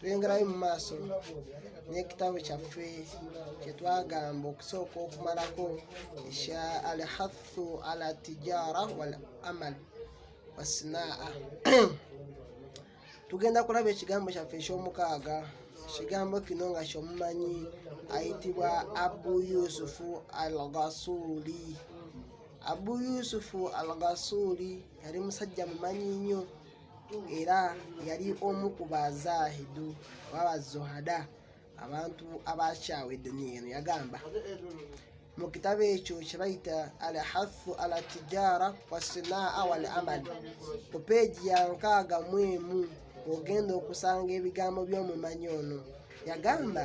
twengerayo mu maaso n'ekitabo kyaffe kyetwagamba okusooka okumalako ekya alhathu ala tijara wal amal wasinaa tugenda kulaba ekigambo kyaffe ekyomukaaga ekigambo kino nga kyomumanyi ayitibwa abu yusufu al gasuli abu yusufu al gasuli yali musajja mumanyi nnyo era yali omu ku bazahidu oba bazohada abantu abakyawa eduniya eno yagamba mu kitabo ekyo kyebayita al hathu ala tijara wasinaa wal amal ku peegi ya nkaaga mu emu ogenda okusanga ebigambo by'omumanyi ono yagamba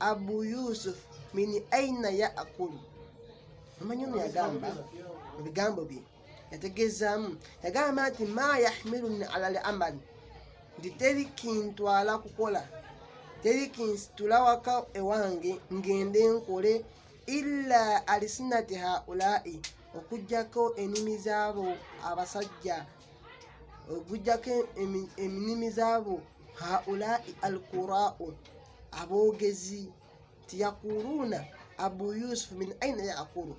Abu Yusuf min aina yaakulu, omanyi ono yagamba mu bigambo bye yategeezaamu yagamba nti ma yahmiluni ala lamali nti teri kintwala kukola teri kinsitula waka ewange ngende nkole illa alisinati haulai okujjako enimi zaabo abasajja okujjako enimi zaabo haulai alqurau aboogezi nti yaquluuna abu yusufu min aina yaqulu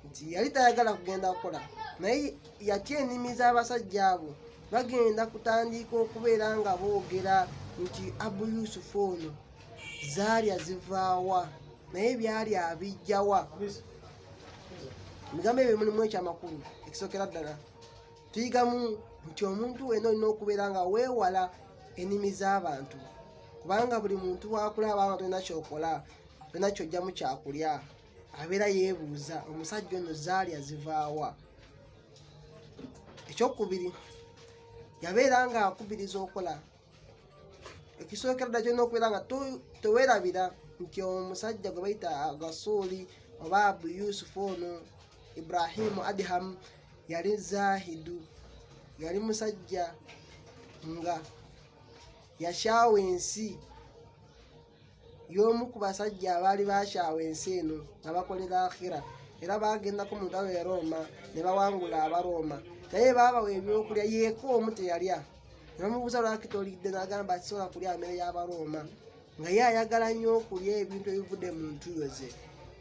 nti yali tayagala kugenda kukola naye yatya ennimi z'abasajja abo bagenda kutandiika okubeera nga boogera nti abu yusufu ono zaalya zivaawa naye byali abijjawa ebigambo ebyo mulimu ekyamakulu ekisookera ddala tuyigamu nti omuntu wena olina okubeera nga weewala enimi z'abantu kubanga buli muntu wakulaba nga tolina kyokola tolina kyojjamu kyakulya abeera yeebuuza omusajja ono zaali azivaawa ekyokubiri yabeera nga akubiriza okola ekisooka ddala kyolina okubeera nga tewerabira nti omusajja gwe bayita gasuuli oba abu yusufu ono ibrahimu adhamu yali zahidu yali musajja nga yakyawa ensi y'omu ku basajja abaali bakyawa ensi eno nga bakolera akhira era baagendako mu ntalo ya rooma ne bawangula abarooma naye baabawa ebyokulya yeeka omu teyalya nebamubuuza lwaki tolidde n'agamba tisobola kulya amere y'abarooma nga ye ayagala nnyo okulya ebintu ebivudde mu ntuyo ze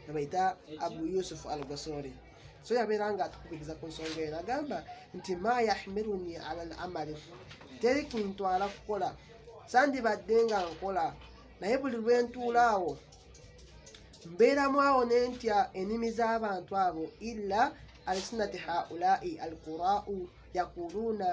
nebayita abu yusufu al gasori so yabeera nga atukubiriza ku nsonga eno agamba nti ma yahmiruni ala al amali teri kintwala kukola sandibadde nga nkola naye buli lwe ntuula awo mbeeramu awo ne ntya ennimi z'abantu abo illa alsinati haulai alqurau yaquluuna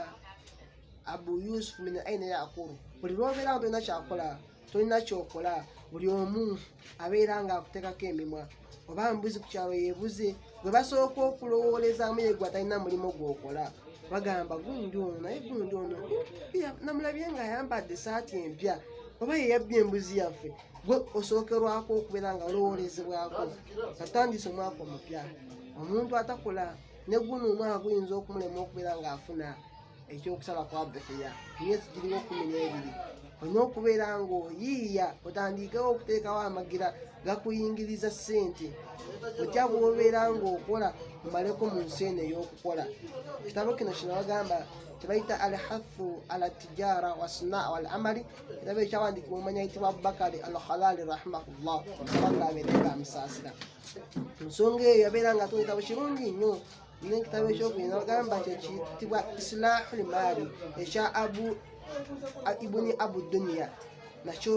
abu yusufu min aina yaqulu buli lwobeerawo tolina kyakola tolina kyokola buli omu abeera nga akutekako emimwa oba mbuzi ku kyalo yebuze gwe basooka okulowoolezamu yegwe atalina mulimu gwokola bagamba gundi ono naye gundi ono namulabye nga ayambadde esaati empya oba yeyabbye embuzi yaffe gwe osookerwako okubeera nga olowoolezebwako atandise omwaka omupya omuntu atakola ne guno omwaka guyinza okumulema okubeera ng'afuna ekyokusala kwa behuya myezi giringa okkumi n'ebiri olina okubeera ng'oyiiya otandiikewo okuteekawo amagira gakuyingiriza ssente otya bwobeera ng'okola omaleko mu nsi eno ey'okukola kitabo kino kino bagamba kyebayita al hafu ala tijara wasna wal amali kitabo ekyawandiikibwa omanya ayitibwa abubakari al halali rahimahullah omusaba ng'abeerenga amusaasira ensonga eyo yabeera nga tuwetabo kirungi nnyo ne ekitabo ekyokubina ogamba kyekitibwa islahu limaali ekya abu ibuni abu duniya nakyo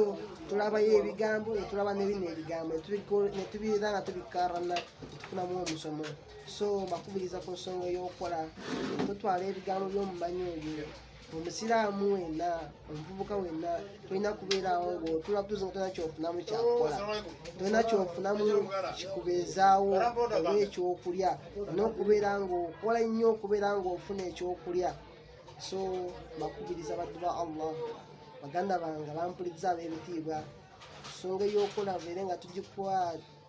tulabayo ebigambo netulaba nebino ebigambo netubiira nga tubikarana netufunamu omusomo so bakubiriza ku nsonga eyokukola totwala ebigambo byomumanyi oyo omusiraamu wenna omuvubuka wenna tolina kubeerawo ngaotula kutuuza nga tolina kyofunamu kyakukola tolina kyofunamu kikubeezaawo oba ekyokulya olina okubeera ngaokola nnyo okubeera ngaofuna ekyokulya so bakubiriza baddu ba allah baganda bange bampuliza ab'ebitiibwa songa ey'okola beere nga tugikuwa